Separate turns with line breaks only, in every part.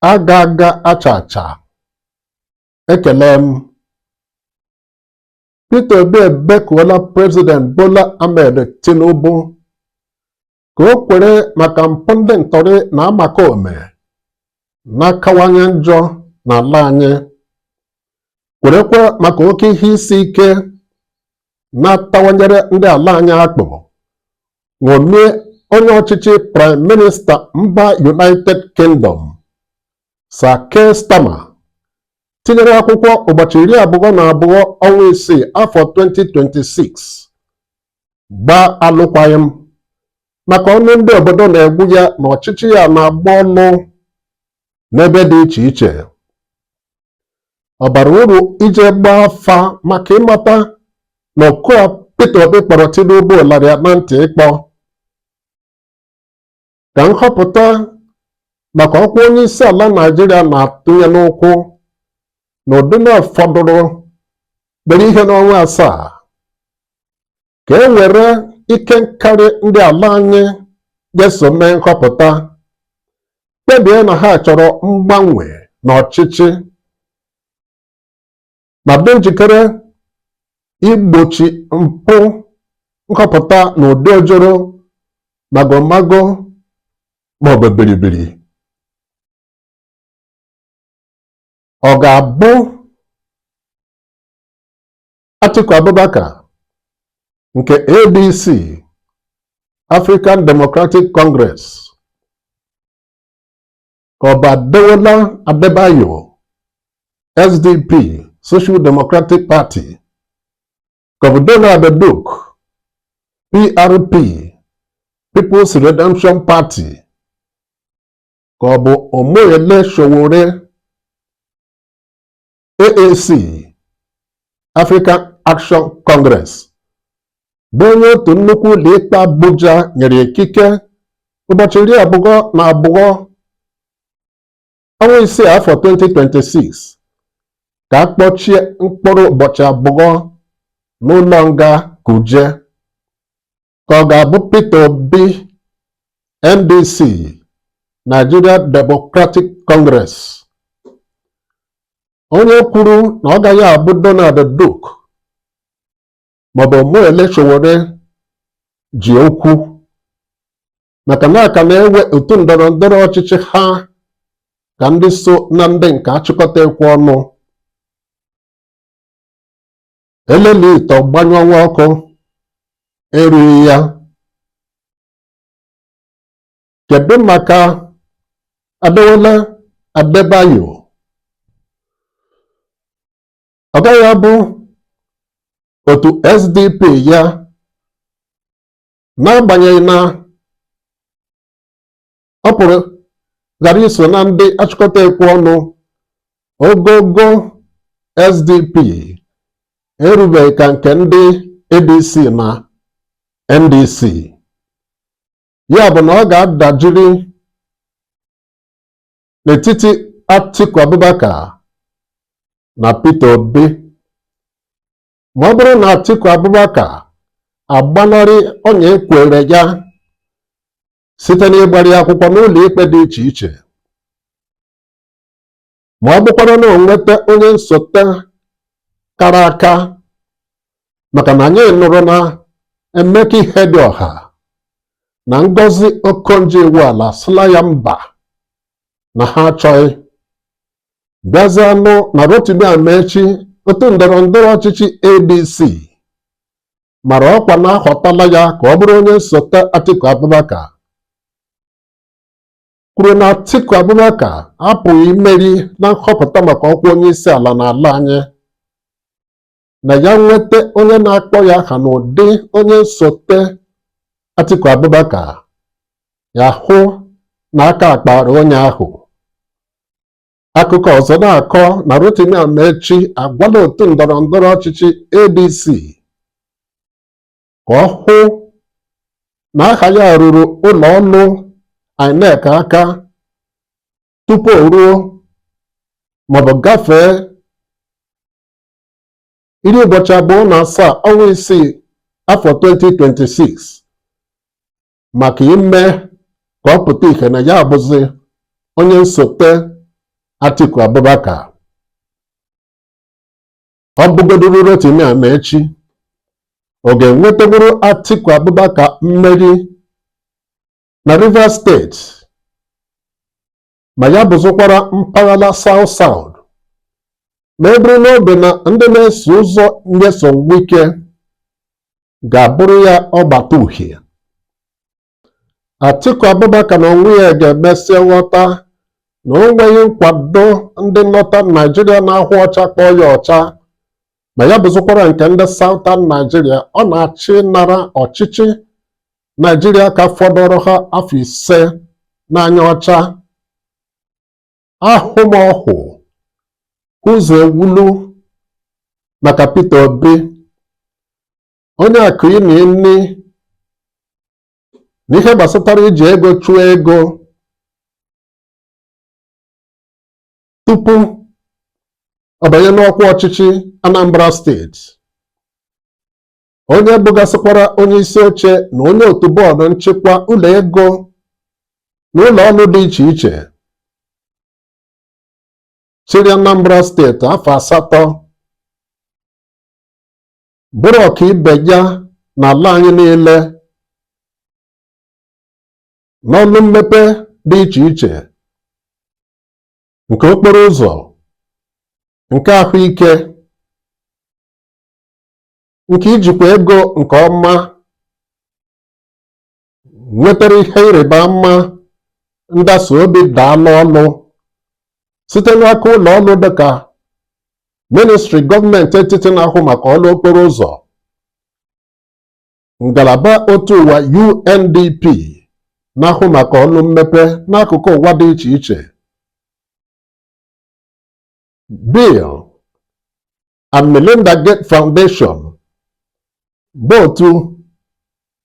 aga aga acha acha ekele m Peter Obi ebekuola President Bola Ahmed Tinubu ka o kwere maka mpụ ndị ntọrị na omekaome na-akawanye njọ n'ala anyị kwerekwa maka oke ihe isi ike na-atawanyere ndị ala anyị akpụ ṅomie onye ọchịchị Prime Minister mba United Kingdom Sir Keir Starmer tinyere akwụkwọ ụbọchị iri abụọ na abụọ ọnwa isii afọ 2026 gbaa alụkwaghịm maka ọnụ ndị obodo na-egbu ya na ọchịchị ya na-agba ọnụ n'ebe dị iche iche ọ bara uru ije gbaa afa maka ịmata na oku a Peter Obi kpọrọ Tinubu lara ya na ntị ịkpọ ka nhọpụta maka ọkwa onye isi ala Naijiria na-atụnye n'ụkwụ n'ụdị na ọ fọdụrụ obere ihe n'ọnwa asaa ka e were ike nkarị ndị ala anyị ga-eso mee nhọpụta kpebie na ha chọrọ mgbanwe n'ọchịchị ma dị njikere igbochi mpụ nhọpụta n'ụdị ojoro magomago maọbụ biribiri ọ ga-abụ Atiku Abubakar nke ADC African Democratic Congress ka ọ bụ Adewole Adebayo SDP Social Democratic Party ka ọ bụ Donald Duke PRP People's Redemption Party ka ọ bụ Omoyele Sowore AAC African Action Congress bụ onye otu nnukwu ụlọikpe Abuja nyere ikike ụbọchị iri abụọ na abụọ ọnwa isii afọ 2026 ka a kpọchie mkpụrụ ụbọchị abụọ n'ụlọ nga Kuje ka ọ ga-abụ Peter Obi NDC Nigeria Democratic Congress onye kwuru na ọ gaghị abụ Donald Duke maọbụ Omoyele Sowore ji okwu maka na a ka na-ewe otu ndọrọ ndọrọ ọchịchị ha ka ndị so na ndị nke achịkọta ekwe ọnụ elelie ite ọ gbanyụọ nwa ọkụ erughị ya kedu maka Adewole Adebayo ọ gaghị abụ otu SDP ya n'agbanyeghị na ọ pụrụ ghara iso na ndị achịkọta ekwe ọnụ ogogo SDP erubeghị ka nke ndị ADC na NDC ya bụ na ọ ga-adajiri n'etiti Atiku Abubakar na Peter Obi ma ọ bụrụ na Atiku Abubakar agbanarị ọnya e kwere ya site n'ịgbara ya akwụkwọ n'ụlọ ikpe dị iche iche ma ọ bụkwara na o nweta onye nsote kara aka maka na anyị nụrụ na Emeka Ihedioha na Ngozi Okonjo-Iweala asịla ya mba na ha achọghị bịazịa nụ na Rotimi Amaechi otu ndọrọ ndọrọ ọchịchị ADC mara ọkwa na a họtala ya ka ọ bụrụ onye nsote Atiku Abubakar kwuru na Atiku Abubakar apụghị imeri na nhọpụta maka ọkwa onye isi ala n'ala anyị na ya nweta onye na-akpọ ya aha n'ụdị onye nsote Atiku Abubakar ya hụ na aka akpara onye ahụ Akụkọ ọzọ na-akọ na Rotimi Amaechi agwala otu ndọrọ ndọrọ ọchịchị ADC ka ọ hụ na aha ya ruru ụlọ ọrụ INEC aka tupu o ruo maọbụ gafee iri ụbọchị abụọ na asaa ọnwa isii afọ 2026 maka ime ka ọ pụta ihe na ya bụzi onye nsote Atiku Abubakar ọ bụgoduru Rotimi Amaechi ọ ga-enwetanwuru Atiku Abubakar mmeri na Rivers steeti ma ya bụzụkwara mpaghara South South ma e buru n'obi na ndị na-eso ụzọ Nyesom Wike ga-abụrụ ya ọgbata uhie Atiku Abubakar na onwe ya ga-emesịa ghọta na o nweghị nkwado ndị Northern Naijiria na-ahụ ọcha kpọọ ya ọcha ma ya bụzụkwara nke ndị Southern Naijiria ọ na-achọ ịnara ọchịchị Naijiria ka fọdụrụ ha afọ ise n'anya ọcha ahụmọhụ ụzọ ewulu maka Peter Obi onye akụ ịna nri na ihe gbasatara iji ego chụọ ego tupu ọ banye n'ọkwa ọchịchị Anambra steeti onye bụgasịkwara onye isi oche na onye otu bọọdụ nchịkwa ụlọ ego na ụlọ ọrụ dị iche iche chịrị Anambra steeti afọ asatọ bụrụ ọka ibe ya n'ala anyị niile n'ọlụ mmepe dị iche iche nke okporo ụzọ nke ahụike nke ijikwa ego nke ọma nwetara ihe ịrịba ama ndasa obi daalụ ọlụ site n'aka ụlọ ọrụ dịka ministri gọọmenti etiti na-ahụ maka ọrụ okporo ụzọ ngalaba otu ụwa UNDP na-ahụ maka ọrụ mmepe n'akụkụ ụwa dị iche iche Bill and Melinda Gates Foundation bụ otu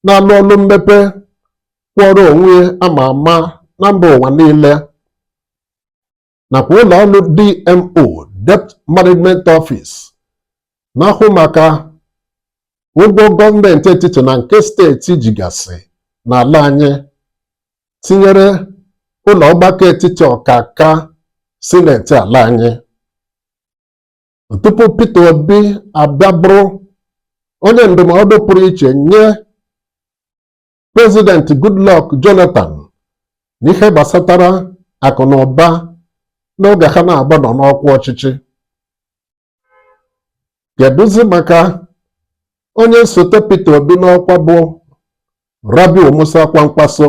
na-alụ ọlụ mmepe kwụọrọ onwe ama ama na mba ụwa niile nakwa ụlọ ọrụ DMO Debt Management Office na-ahụ maka ụgwọ gọọmenti etiti na nke steeti jigasị n'ala anyị tinyere ụlọ ọgbakọ etiti ọkaka sineti ala anyị tupu Peter Obi abịa bụrụ onye ndụmọdụ pụrụ iche nye prezidenti Goodluck Jonathan n'ihe gbasatara akụ na ụba n'oge ha naabọ nọ n'ọkwa ọchịchị kedụzi maka onye nsote Peter Obi n'ọkwa bụ Rabiu Musa Kwankwaso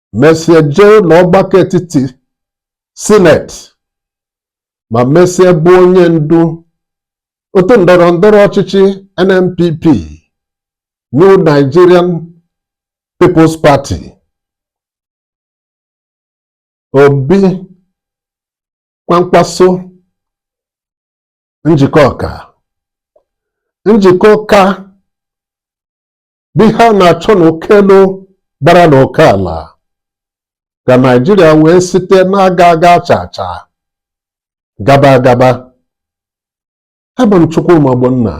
mesie jee ụlọ ọgbakọ etiti sineti ma mesie bụ onye ndu otu ndọrọ ndọrọ ọchịchị NNPP New Nigerian People's Party Obi Kwankwaso njikọ ọka njikọ ọka bụ ihe a na-achọ n'uko elu gbara n'uko ala ka Naijiria wee site na-aga aga acha acha gaba agaba abụ m Chukwuma Ogbonna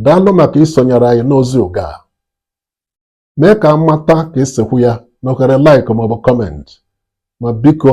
daalụ maka isonyere anyị n'ozi oge a mee ka a mata ka e si ekwu ya n'ohere like ma ọ bụ comment ma biko